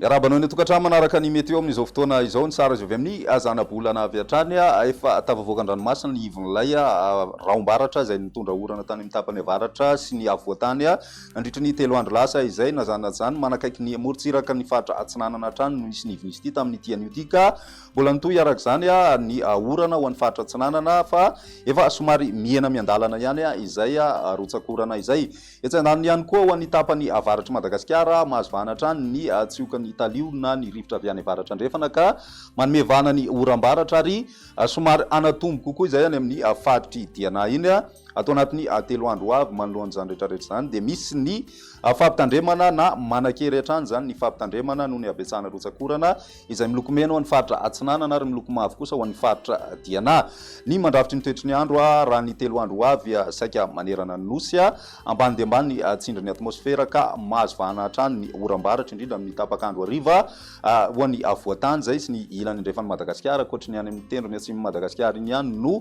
Miarahaba anao ny tokantrano manaraka ny meteo amin'izao fotoana izao ny sary azo avy amin'ny zanabolana avy hatrany efa tafavoaka an-dranomasina ny ivon'ilay rahombaratra izay nitondra orana tany amin'ny tapany avaratra sy ny afovoantany Nandritra ny telo andro lasa izay, na zany na zany, manakaiky ny morontsiraka ny faritra Atsinanana hatrany no nisy nivinisy ity tamin'ity anio ity ka mbola nitohy araka izany ny orana ho an'ny faritra Atsinanana fa efa somary mihena miandalana ihany izay rotsakorana izay. Etsy andaniny ihany koa ho an'ny tapany avaratr'i Madagasikara, mahazo vahana hatrany ny tsiokan'ny talio na ny rivotra avy any avaratra andrefana ka manome vahana ny oram-baratra ary somary hanatombo kokoa izay any amin'ny faritr'i Diana iny. Ato anatin'ny telo andro ho avy manoloan'izany rehetrarehetra izany dia misy ny fampitandremana na manan-kery hatrany izany ny fampitandremana noho ny habetsahana rotsak'orana izay miloko mena ho an'ny faritra Atsinanana ary miloko mavo kosa ho an'ny faritra Diana ny mandrafitry ny toetry ny andro raha ny telo andro ho avy saika manerana ny nosy ambany dia ambany ny tsindrin'ny atmosfera ka mahazo vahana hatrany ny oram-baratra indrindra amin'ny tapak'andro hariva ho an'ny afovoan-tany izay sy ny ilany andrefan'i Madagasikara ankoatry ny any amin'ny tendrony atsimon'i Madagasikara iny ihany no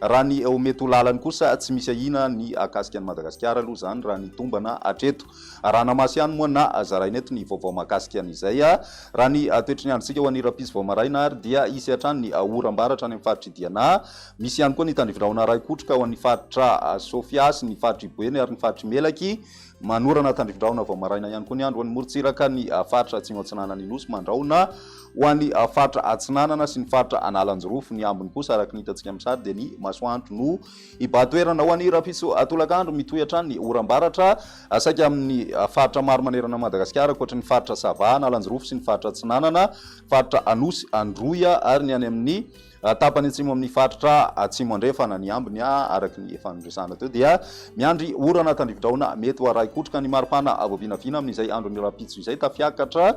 Raha ny ho mety ho lalany kosa tsy misy ahiana ny hahakasika an'i Madagasikara aloha izany raha ny tombana hatreto. Arahana maso ihany moa na zaraina eto ny vaovao mahakasika an'izay. Raha ny toetry ny androntsika ho an'ny rahampitso vao maraina ary dia hisy hatrany ny oram-baratra any amin'ny faritr'i Diana. Misy ihany koa ny tandrivindrahona ara-ekotroka ho an'ny faritra Sofia sy ny faritr'i Boeny ary ny faritr'i Melaky. Manorana tandrifindrahona vao maraina ihany koa ny andro ho an'ny morontsiraka ny faritra Atsimo Atsinanan'ny Nosy. Mandrahona ho an'ny faritra Atsinanana sy ny faritra Analanjirofo. Ny ambiny kosa araka ny hitantsika amin'ny sary dia ny masoandro no hibahan-toerana ho an'ny rahampitso tolakandro. Mitohy hatrany ny oram-baratra saika amin'ny faritra maro manerana an'i Madagasikara ankoatry ny faritra Sava, Analanjirofo sy ny faritra Atsinanana, faritra Anosy, Androy ary ny any amin'ny Raha tapany atsimo amin'ny faritra Atsimo Andrefana ny ambiny, araka ny efa noresahana teo, dia miandry orana tandrividraona mety ho arahi-kotroka ny maripana vao vinavina amin'izay andron'ny rahampitso izay. Tafiakatra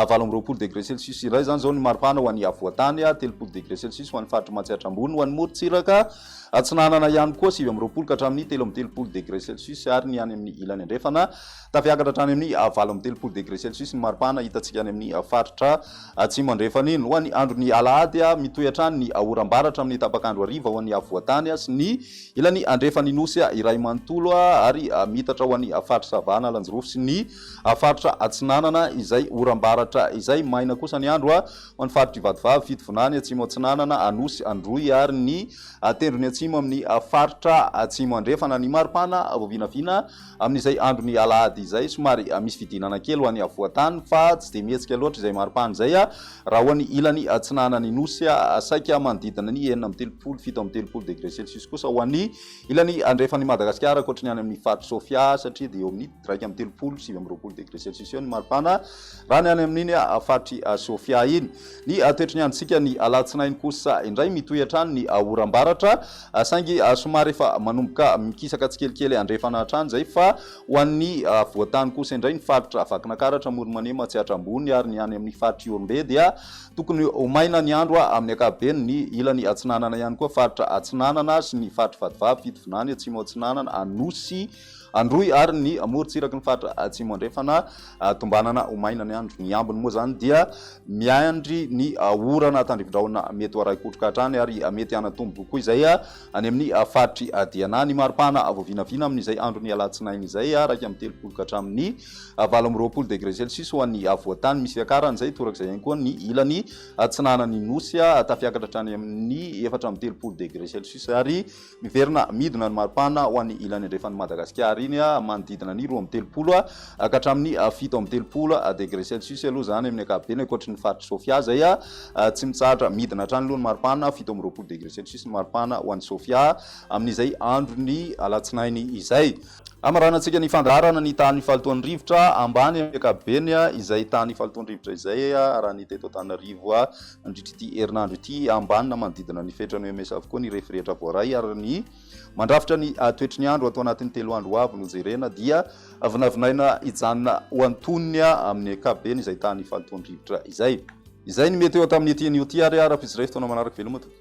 valo amby roapolo degre celsius iray izany izao ny maripana ho an'ny afovoan-tany, telopolo degre celsius ho an'ny faritry Matsiatra Ambony, ho an'ny morontsiraka atsinanana ihany koa sivy amby roapolo ka hatramin'ny telo amby telopolo degre celsius ary ny any amin'ny ilany andrefana Tafiakatra hatrany amin'ny valo amby telopolo degre celsius ny maripana hitantsika any amin'ny faritra Atsimo Andrefana iny. Ho an'ny andron'ny alahady, mitohy hatrany ny oram-bara hatramin'ny tapak'andro hariva ho an'ny afovoan-tany sy ny ilany andrefan'ny Nosy iray manontolo ary miitatra ho an'ny faritra Sava Analanjirofo sy ny faritra Atsinanana izay oram-baratra izay. Maina kosa ny andro ho an'ny faritr'i Vatovavy, Fitovinany, Atsimo Atsinanana, Anosy, Androy ary ny Tendrony Atsimo amin'ny faritra Atsimo Andrefana. Ny maripana vao vinavina. Amin'izay andron'ny alahady izay, somary misy fidinana kely ho any afovoan-tany, fa tsy dia mihetsika loatra izay maripana izay, raha ho any ilany atsinanan'ny Nosy, saika manodidina ny enina amby telopolo, fito amby telopolo degré celsius kosa ho any ilany andrefan'i Madagasikara, ankoatry ny any amin'ny faritr'i Sofia, satria dia eo amin'ny iraika amby telopolo, sivy amby roapolo degré celsius eo ny maripana. Raha ny any amin'iny faritr'i Sofia iny. Ny toetry ny androntsika ny alatsinainy kosa indray mitohy hatrany ny oram-baratra saingy somary efa manomboka mikisaka tsikelikely andrefana hatrany izay fa ho an'ny afovoan-tany kosa indray ny faritra Vakinakaratra, Amoromanema, Tsiatra Ambony ary ny any amin'ny faritr'i Ihorombe dia tokony ho maina ny andro amin'ny ankapobeny. Ny ilany atsinanana ihany koa, faritra Atsinanana sy ny faritr'i Vatovavy, Fitovinany, Atsimo Atsinanana, Anosy, Androy ary ny morontsiraky ny faritra Atsimo Andrefana tombanana ho maina ny andro. Ny ambiny moa izany dia miandry ny orana tandrifin-drahona mety ho arahi-kotroka hatrany ary mety hanatombo koa izay any amin'ny faritry Diana. Ny mari-pahana vao vinavina amin'izay andron'ny alatsinainy izay, iraika amby telopolo ka hatramin'ny valo amby roapolo degre celsius ho an'ny afovoantany misy fiakarany izay torak'izay ihany koa ny ilany atsinanan'ny Nosy, tafiakatra hatrany amin'ny efatra amby telopolo degre celsius ary Miverina midina ny maripana ho an'ny ilany andrefan'i Madagasikara iny manodidina ny roa amby telopolo ka hatramin'ny fito amby telopolo degré celsius aloha izany amin'ny ankapobeny ankoatry ny faritry Sofia izay tsy mitsahatra midina hatrany aloha ny maripana fito amby roapolo degré celsius ny maripana ho an'i Sofia amin'izay andron'ny alatsinainy izay. Hamaranantsika ny fandaharana ny tany fahalotoan'ny rivotra ambany amin'ny ankapobeny, izay tany fahalotoan'ny rivotra izay arahan'ny teto Antananarivo nandritra ity herinandro ity. Ambany na manodidina ny fetran'ny OMS avokoa ny refy rehetra voaray ary ny mandrafitra ny toetry ny andro ato anatin'ny telo andro ho avy no jerena dia vinavinaina hijanona ho antonony amin'ny ankapobeny izay tany fahalotoan'ny rivotra izay. Izay ny meteo tamin'ity anio ity ary araha-pijery fotoana manaraka. Veloma tompoko.